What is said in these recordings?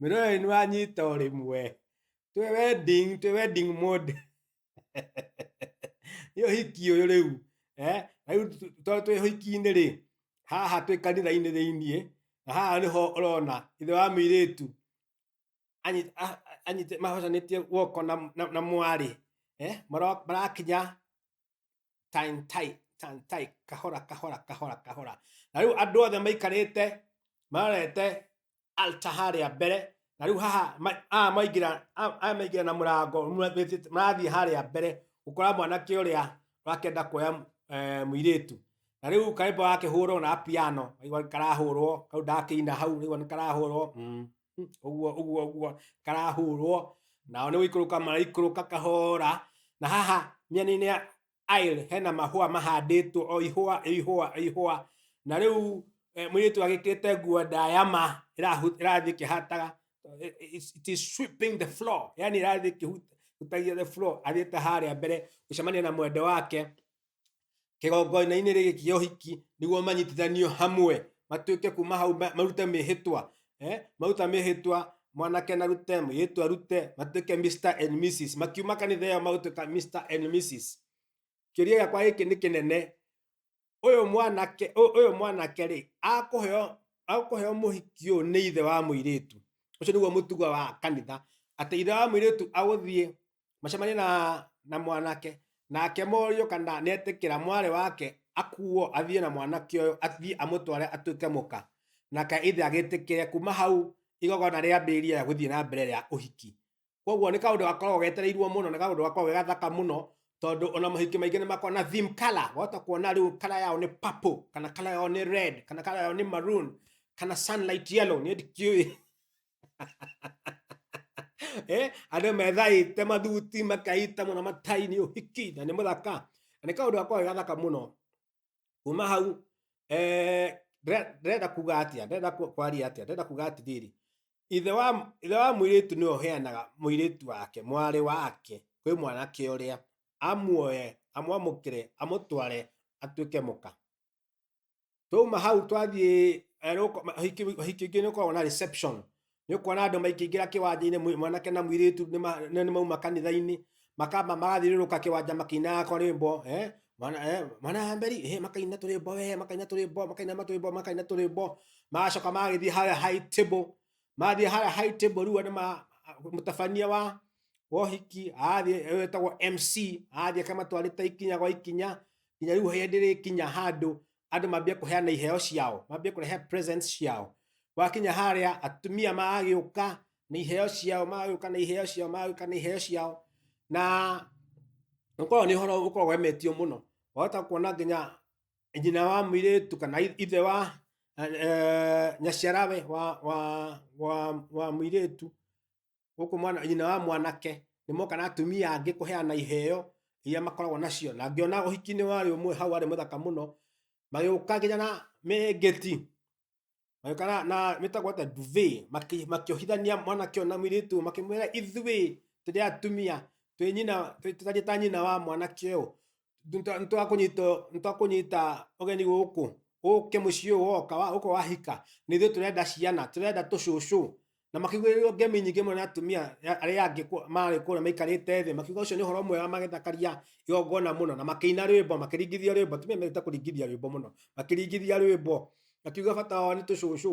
Mĩrũĩ nĩ wanyita o rĩmwe. Twĩ wedding, twĩ wedding mode. Nĩ ũhiki ũyũ rĩu. Eh, rĩu tondũ twĩ ũhiki-inĩ rĩ, haha twĩ kanitha-inĩ thĩiniĩ, na haha nĩho ũrona ithe wa mũirĩtu anyi- a- a- anyite mahocanĩtie guoko na, na, na mwarĩ eh, maro- marakinya tantai tantai kahora kahora kahora kahora na rĩu andũ othe maikarĩte marorete altar harĩa mbere na rĩu haha ma- aya maingĩra a- aya maingĩra na mũrango mura- wĩtĩte- marathiĩ harĩa mbere gũkora mwanake ũrĩa ũrakenda kuoya eh, mũirĩtu na rĩu kaimbo gakĩhũrwo na piano aigua karahũrwo kau ndakĩina hau rĩu nĩ karahũrwo mm, mm, ũguo ũguo ũguo karahũrwo nao nĩ gũikũrũka maraikũrũka kahora na haha mĩena-inĩ ya- aisle hena mahũa mahandĩtwo o ihũa o ihũa o ihũa na rĩu eh, mũirĩtu agĩkĩrĩte nguo ndaya ma ĩrahu- ĩrathiĩ kĩhataga eh, it's- it is sweeping the floor yani ĩrathiĩ kĩhutagia the floor athiĩte harĩa mbere gũcemania na mwende wake kĩgongoina-inĩ rĩgĩ kĩa ũhiki nĩguo manyitithanio hamwe matuĩke kuma hau ma- marute mĩhĩtwa eh? mauta mehĩtwa mwanake na rute mũirĩtu arute matuĩke Mr. and Mrs. makiuma kanitha ĩyo magũtuĩka Mr. and Mrs. kĩũria gĩakwa gĩkĩ nĩ kĩnene ũyũ mwanake ũ- ũyũ mwanake rĩ akũheo akũheo mũhiki ũyũ nĩ ithe wa mũirĩtu ũcio nĩguo mũtugo wa kanitha atĩ ithe wa mũirĩtu agũthiĩ macemanie na na mwanake nake morio kana netikira mwari wake akuo athie na mwanake uyu athie amutware atuike muka nake ithe agitikire kuma hau igogona ria mbiria ya guthie na mbere ya uhiki koguo ni kaundu gakoragwo getereirwo muno ni kaundu gakoragwo ge gathaka muno tondu ona mahiki maingi ni makoragwo na theme color wahota kuona riu color yao ni purple kana color yao ni red kana color yao ni maroon kana sunlight yellow ni ndikiui eh ada methai te mathuti makaita muno matai ni uhiki na ni muthaka na ni kaundu gakwa gathaka muno kuma hau eh ndĩrenda kuga atia ndĩrenda kwaria atia ndĩrenda kuga ati riri ithe wa ithe wa mwiritu ni oheanaga mwiritu wake mwari wake kwi mwanake uria amuoye amwamukire amutware atuike muka twauma hau twathiĩ eh, nĩ ũko- ma- hiki hiki ingĩ nĩ ũkoragwo na reception nĩ ũkuona andũ maingĩingĩra kĩwanja-inĩ mwi- mwanake na mũirĩtu nĩ ma- nĩ nĩ mauma kanitha-inĩ makamba magathiũrũrũka kĩwanja makĩinaga korĩmbo eh, mwana eh, mwana wa mberi eh, makaina tũrĩmbo we makaina tũrĩmbo makaina matũrĩmbo makaina tũrĩmbo magacoka magagĩthiĩ harĩa high table mathiĩ harĩa high table rĩu nĩ ma mũtabania wa wohiki athiĩ wetagwo mc athiĩ akamatwarĩte ikinya gwa ikinya nginya rĩu hĩndĩ rĩkinya handũ andũ mambia kũheana iheo ciao mambia kũrehe presents ciao wakinya harĩa atumia magagĩũka na iheo ciao magagĩũka na iheo ciao magagĩũka na iheo ciao na ũkoragwo nĩ ũhoro ũkoragwo wemetio mũno wahota kuona nginya nyina wa mũirĩtu kana i- ithe wa eh, nyaciarawe wa, wa, wa, wa mũirĩtu gũkũ mwana nyina wa mwanake nĩ moka na atumia angĩ kũheana iheo iria makoragwo nacio na ngĩona ũhiki-inĩ warĩ ũmwe hau warĩ mũthaka mũno magĩũka nginya na mĩngĩti magĩũka na, na mĩtagwo ta duve makĩohithania mwanake ũyũ na mũirĩtu ũyũ, makĩmwĩra ithuĩ tũrĩ atumia twĩ nyina twĩ- tũtariĩ ta nyina wa mwanake ũyũ nitwakũnyita ũgeni gũkũ ũke mũciĩ ũyũ woka wa- ũko wahika nĩ ithuĩ tũrenda ciana tũrenda tũcũcũ na makĩugĩrĩrwo ngemi nyingĩ mũno na atumia ya- arĩa angĩ kũ- marĩ kũrĩa maikarĩte thĩ makiuga ũcio nĩ ũhoro mwega magĩthakaria igongona mũno na makĩina rwĩmbo makĩringithia rwĩmbo atumia mendete kũringithia rwĩmbo mũno makĩringithia rwĩmbo makiuga bata wao nĩ tũcũcũ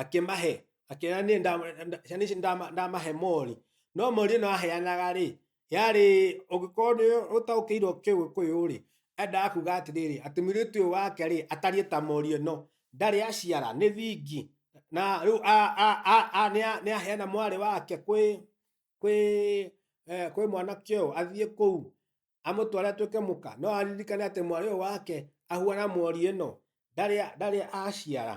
akĩmahe akĩra niĩ ndama- nda- ciana ici ndama- ndamahe mori no mori ĩno aheanaga rĩ yarĩ ũngĩkorwo nĩ ũtaũkĩirwo kĩgĩkũyũ rĩ endaga kuga atĩrĩrĩ atĩ mũirĩtu ũyũ wake rĩ atariĩ ta mori ĩno ndarĩ aciara nĩ thingi na rĩu a- a- a- a- nĩa- nĩaheana mwarĩ wake kwĩ kwĩ eh, kwĩ mwanake ũyũ athiĩ kũu amũtware atuĩke mũka no aririkane atĩ mwarĩ ũyũ wake ahuana mori ĩno ndarĩ ndarĩ aciara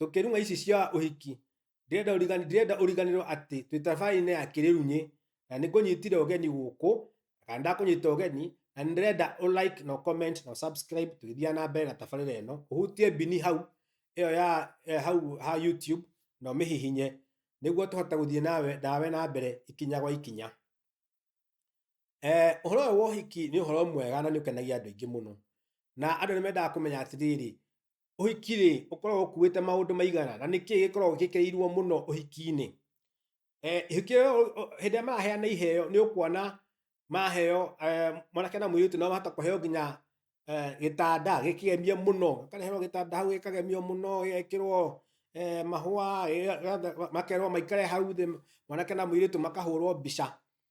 tũkĩrung'a ici cia ũhiki ndirenda ũrigani ndirenda ũriganĩrwo atĩ twĩ tabarĩinĩ ya kĩrĩrunyĩ na nĩ kũnyitire ũgeni gũkũ kana ndakũnyita ũgeni na nĩ ndĩrenda ũ like na ũ comment na ũ subscribe tũgĩthiaga na mbere na tabarĩra ĩno ũhutie mbini hau ĩyo ya eh, hau ha YouTube na ũmĩhihinye nĩguo tũhote gũthiĩ nawe nawe na mbere ikinya gwa ikinya Eh, ũhoro ũyũ wa ũhiki nĩ ũhoro mwega na nĩ ũkenagia andũ aingĩ mũno na andũ nĩ mendaga kũmenya atĩrĩrĩ ũhiki rĩ ũkoragwo ũkuĩte maũndũ maigana na nĩkĩ gĩkoragwo gĩkĩrĩirwo mũno ũhiki-inĩ Eh, ihiki rĩo, o- o- hĩndĩ ĩrĩa maraheana iheo nĩ ũkuona maheo eh, mwanake na mũirĩtu no mahota kũheo nginya eh, gĩtanda gĩkĩgemie mũno gĩkareherwo gĩtanda hau gĩkagemio mũno gĩgekĩrwo eh, mahũa gĩga- gĩga- makerwo maikare hau thĩ mwanake na mũirĩtu makahũrwo mbica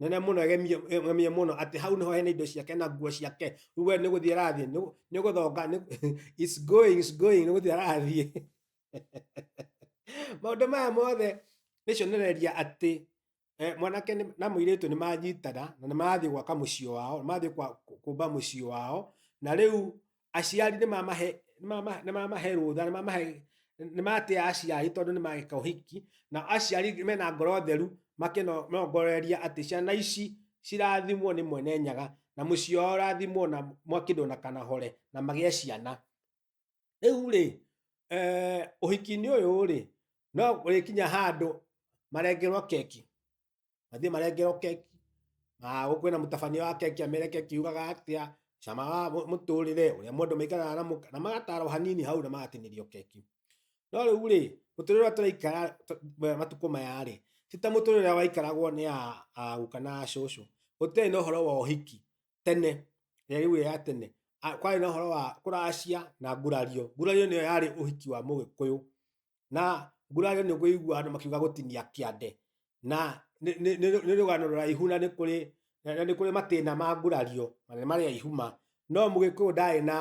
nene muno gemie muno ati hau niho hena indo ciake na nguo ciake riu we ni guthie arathie ni guthonga is going is going ni guthie arathie maundu maya mothe ni cionereria ati eh, mwanake ni- na muiritu ni manyitana na ni marathie gwaka mucii wao ni marathie kumba mucii wao na riu aciari nĩ mamahe nĩ mamahe nĩ mamahe rũtha nĩ mamahe nĩ matĩa aciari tondũ nĩ magĩka ũhiki na aciari mena ngoro theru makĩnongoreria atĩ ciana ici cirathimwo nĩ mwene nyaga na mũciĩ wao ũrathimwo na mwakĩndũ na kanahore na magĩe ciana rĩu rĩ eh, ũhiki-inĩ ũyũ rĩ no ũrĩkinya handũ marengerwo keki mathiĩ marengerwo keki na gũkũ kwĩna mũtabania wa keki amere keki yugaga atĩa cama wa mũ- mũtũrĩre ũrĩa mũndũ maikaraga na mũka- na magatarwo hanini hau na magatinĩrio keki no rĩu rĩ mũtũrĩre ũrĩa tũraikara tũ- ma- matukũ maya rĩ ti ta mũtũrĩre ũrĩa waikaragwo nĩ a- a guka na cũcũ gũtirĩ na ũhoro wa ũhiki tene rĩrĩa rĩu ya tene a- kwarĩ na ũhoro wa kũracia na ngurario ngurario nĩyo yarĩ ũhiki wa mũgĩkũyũ na ngurario nĩ kũigua andũ makiuga gũtinia kĩande na nĩ- nĩ nĩ- nĩ rũgano rũraihu na nĩ kũrĩ na na nĩ kũrĩ matĩna ma ngurario na nĩ marĩa ihuma no mũgĩkũyũ ndarĩ na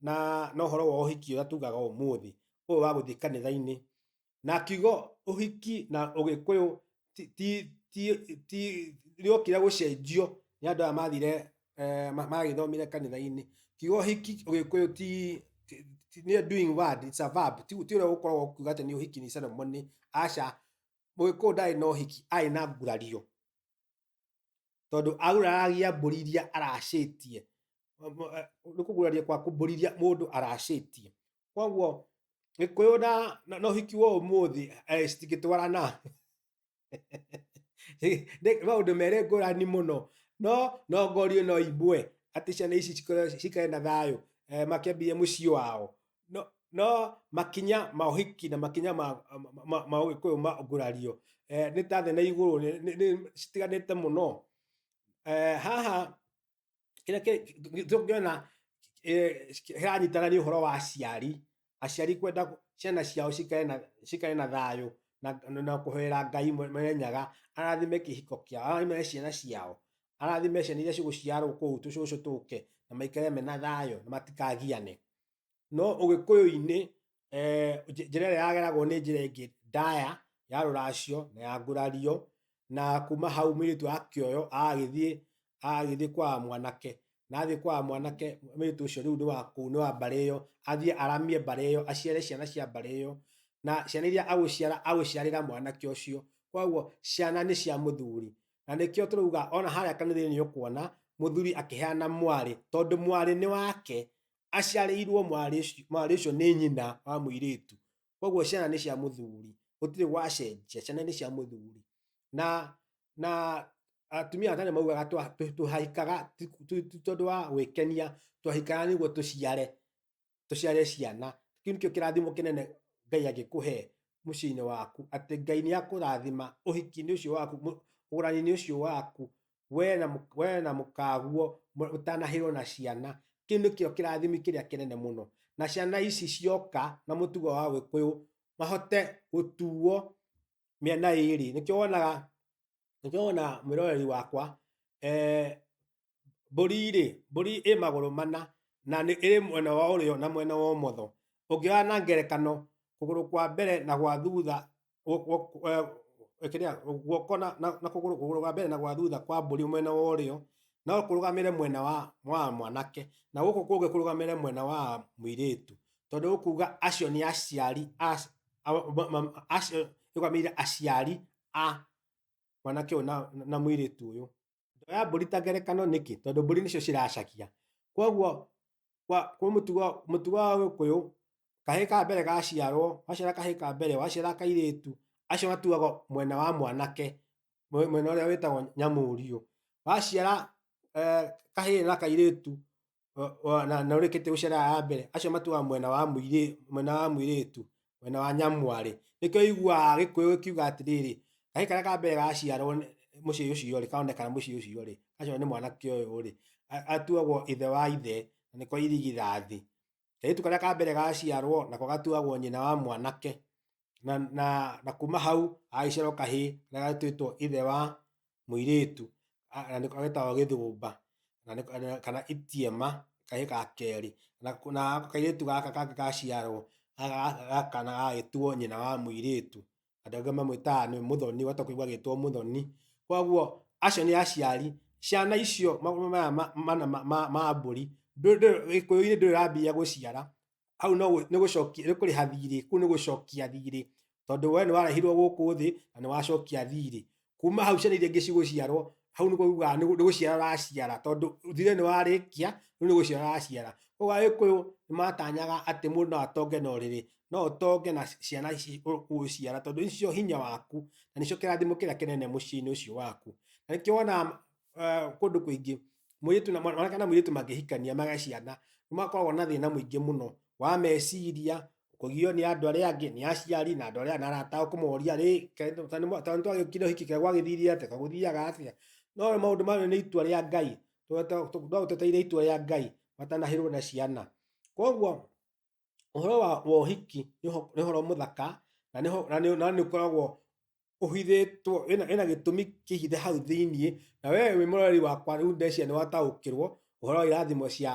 na na ũhoro wa ũhiki ũrĩa tugaga ũmũthĩ ũyũ wa gũthiĩ kanitha-inĩ na kiugo ũhiki na ũgĩkũyũ ti- ti- ti- ti- rĩokire gũcenjio nĩ andũ aya mathire eh, ma- magĩthomire kanitha-inĩ kiugo hiki ũgĩkũyũ ti ti- ti- nĩ a doing word it's a verb ti ti ũrĩa gũkoragwo kuga atĩ nĩ ũhiki nĩ ceremony aca mũgĩkũyũ ndarĩ na ũhiki arĩ na ngurario tondũ aguraragia mbũri iria aracĩtie nĩ kũguraria kwa kũmbũri iria mũndũ aracĩtie koguo gikuyu na na na uhiki wa umuthi eh, citingĩtwarana Nĩ- maũndũ merĩ ngũrani mũno no no ngorio no imbue atĩ ciana ici cikorwo cikare na thayũ eh, makĩambie mũciĩ wao no no makinya ma ũhiki na makinya ma ma- ma- ma ũgĩkũyũ ma ngũrario eh, nĩ ta thĩ na igũrũ nĩ- nĩ- nĩ- citiganĩte mũno eh, haha kĩrĩa tũngĩona eh, kĩranyitana nĩ ũhoro wa aciari aciari kwenda ciana ciao cikare na thayũ na kũhoera ngai marenyaga arathime kĩhiko kĩao arathime ciana ciao arathime ciana iria cigũciarwo kũu tũcũcũ tũke na maikare mena thayũ na matikagiane no ũgĩkũyũ-inĩ eh, nj- njĩra ĩrĩa yageragwo nĩ njĩra ĩngĩ ndaya ya rũracio na ya ngurario na kuma hau mũirĩtu akĩoyo agagĩthiĩ agagĩthiĩ kwa mwanake na athiĩ kwa mwanake mũirĩtu ũcio rĩu nĩ wa kũu nĩ wa mbarĩ ĩyo athiĩ aramie mbarĩ ĩyo aciare ciana cia mbarĩ ĩyo na ciana iria agũciara agũciarĩra mwanake ũcio koguo ciana nĩ cia mũthuri na nĩkĩo tũrauga ona harĩa kanitha-inĩ nĩ ũkuona mũthuri akĩheana mwarĩ tondũ mwarĩ nĩ wake aciarĩirwo mwarĩ ũcio- mwarĩ ũcio nĩ nyina wa mũirĩtu koguo ciana nĩ cia mũthuri gũtirĩ gwacenjia ciana nĩ cia mũthuri na na atumia a tene maugaga twa- tũ- tũhahikaga ti- ti- ti tondũ wa gwĩkenia twahikaga nĩguo tũciare tũciare ciana kĩu nĩkĩo kĩrathimo kĩnene ngai angĩkũhe mũciĩ-inĩ waku atĩ ngai nĩ akũrathima ũhiki-inĩ ũcio waku mũ- ũgũrani-inĩ ũcio waku we na mũ- we na mũkaguo mũ- ũtanahĩrwo na ciana kĩu nĩkĩo kĩrathimi kĩrĩa kĩnene mũno na ciana ici cioka na mũtugo wa gĩkũyũ mahote gũtuo mĩena ĩrĩ nĩkĩo wonaga nĩkĩo wonaga mwĩroreri wakwa eh, mbũri rĩ mbũri ĩ magũrũ mana na nĩ ĩrĩ mwena wa ũrĩo na mwena wa ũmotho ũngĩoya na ngerekano kũgũrũ kwa mbere na gwa thutha guoko na kũgũrũ kũgũrũ gwa mbere na gwa thutha kwa mbũri mwena wa ũrĩo no kũrũgamĩre mwena wa mwanake na gũkũ kũngĩ kũrũgamĩre mwena wa mũirĩtu tondũ ũkuga acio nĩ aciari arũgamĩrĩire aciari a mwanake ũyũ na mũirĩtu ũyũ. Ndoya mbũri ta ngerekano nĩkĩ tondũ mbũri nĩcio ciracaria kwoguo kwa kwa mũtugo mũtugo wa gĩkũyũ kahĩ ka mbere gaciarwo waciara kahĩ ka mbere waciara kairĩtu acio matuagwo mwena wa mwanake mwe- mwena ũrĩa wĩtagwo nyamũrio waciara eh, kahĩ na kairĩtu o- o- na na ũrĩkĩtie gũciara ya mbere acio matuaga mwena wa mũirĩ mwena wa mũirĩtu mwena wa nyamwarĩ nĩkĩo iguaga gĩkũyũ gĩkiuga atĩrĩrĩ kahĩ karĩa ka mbere gaciarwo nĩ- mũciĩ ũcio rĩ kaonekana mũciĩ ũcio rĩ gaciarwo nĩ mwanake ũyũ rĩ a- atuagwo ithe wa ithe na nĩko irigithathi kairĩtu karĩa ka mbere gaciarwo nako gatuagwo nyina wa mwanake na, na, na kuma hau agagĩciarwo kahĩ na gatuĩtwo ithe wa mũirĩtu agetawa gĩthũmba kana itiema kahĩ ga kerĩ. Na kairĩtu gaka kangĩ gaciarwo gaka kana gagagĩtuo nyina wa mũirĩtu, andũ angĩ mamwĩtaga nĩ mũthoni ũgatuĩka kũigua agĩtwo mũthoni. Koguo acio nĩ aciari, ciana icio magũrũ maya mana ma mbũri, Gĩkũyũ-inĩ ndũrĩ ũrambia gũciara, hau no gũ- nĩ gũcokia nĩ kũrĩha thirĩ kũu nĩ gũcokia thirĩ tondũ we nĩ warehirwo gũkũ thĩ na nĩ wacokia thirĩ kuma hau ciana iria ingĩ cigũciarwo hau nĩguo ugaga nĩ gũ- nĩ gũciara ũraciara tondũ thirĩ nĩ warĩkia rĩu nĩ gũciara ũraciara koguo agĩkũyũ nĩ matanyaga atĩ mũndũ no atonge na ũrĩrĩ no ũtonge na ciana ici ũ- ũgũciara tondũ nĩcio hinya waku na nĩcio kĩrathimo kĩrĩa kĩnene mũciĩ-inĩ ũcio waku na nĩkĩo wonaga uh, kũndũ kũingĩ mũirĩtu na mwana- mwanake na mũirĩtu mangĩhikania magĩa ciana nĩ makoragwo na thĩna mũingĩ mũno wa meciria kũgio nĩ andũ arĩa angĩ nĩ aciari na andũ arĩa na arata ao kũmoria rĩ tondũ twagĩkire ũhiki kega gwagĩthire atĩa kagũthiaga atĩa no maũndũ mayo nĩ itua rĩa ngai no tweteire itua rĩa ngai matanahĩrwo na ciana koguo ũhoro wa wa ũhiki nĩ ũho- nĩ ũhoro mũthaka na nĩ ho- na nĩ- na nĩ ũkoragwo ũhithĩtwo wĩna wĩna gĩtũmi kĩhithe hau thĩinĩ na we wĩ mũrori wakwa rĩu ndeciria nĩ wataũkĩrwo ũhoro wa irathimo cia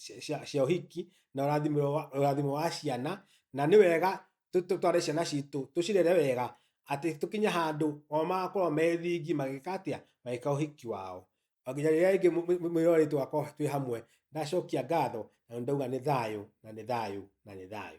cia- cia cia ũhiki na ũrathimo wa ũrathimo wa ciana na nĩ wega tũ- tũ- tware ciana citũ tũcirere wega atĩ tũkinye handũ o magakorwo methingi magĩka atĩa magĩka ũhiki wao o nginya rĩrĩa rĩngĩ mũ- mũ- mwĩrorei tũgakorwo twĩ hamwe ndacokia ngatho na nĩ ndauga nĩ thayũ na nĩ thayũ na nĩ thayũ